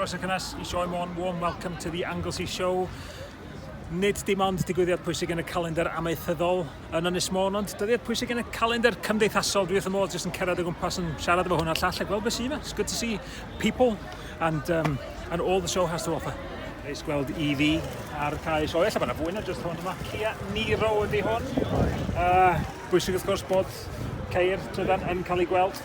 Croeso cynnes i Sioe Môn, warm welcome to the Anglesey Show. Nid dim ond digwyddiad pwysig yn y calendar amaethyddol yn Ynys Môn, ond dyddiad pwysig yn y calendar cymdeithasol. Dwi wrth y modd jyst yn cerdded o gwmpas yn siarad efo hwnna llall a gweld beth sy'n yma. It's good to see people and, um, and all the show has to offer. Reis gweld EV ar cael ei sioe. Alla bod yna fwy na jyst hwn yma. Kia Niro ydy hwn. Uh, bwysig wrth gwrs bod ceir trydan yn cael ei gweld.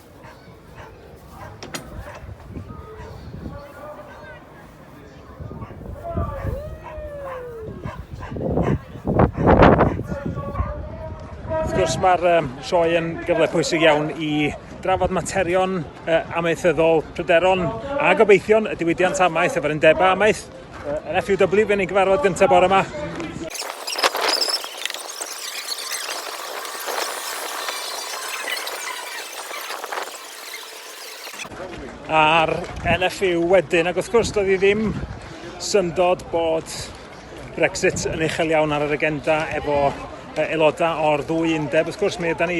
Wrth gwrs mae'r um, sioe yn gyfle pwysig iawn i drafod materion uh, amaethyddol pryderon a gobeithion y diwydiant amaeth efo'r undebau amaeth Yr FUW yn ei gyfarfod gyntaf bore yma. a'r LFU wedyn, ac wrth gwrs doedd hi ddim syndod bod Brexit yn uchel iawn ar yr agenda efo aelodau o'r ddwy undeb. Wrth gwrs, mi ydy ni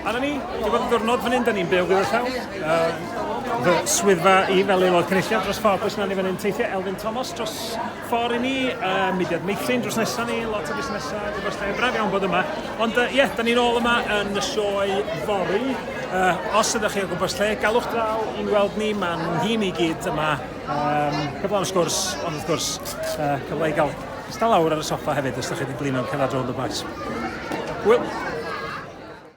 Arna ni, di bod yn ddwrnod fan hyn, da ni'n byw gyda llaw. Uh, fy swyddfa i fel aelod cynulliad dros ffordd, bwys na ni fan hyn teithio, Elfyn Thomas dros ffordd i ni, uh, mudiad meithrin dros nesaf ni, lot o busnesau, di bod yn braf iawn bod yma. Ond ie, uh, yeah, da ni'n ôl yma yn y sioe fori. Uh, os ydych chi o gwmpas lle, galwch draw i'n weld ni, mae'n nhîm i gyd yma. Um, cyflawn sgwrs, ond wrth gwrs, uh, cyfle i gael Ista lawr ar y soffa hefyd os 'da chi 'di blino'n cerdded rownd y bois. Hwyl!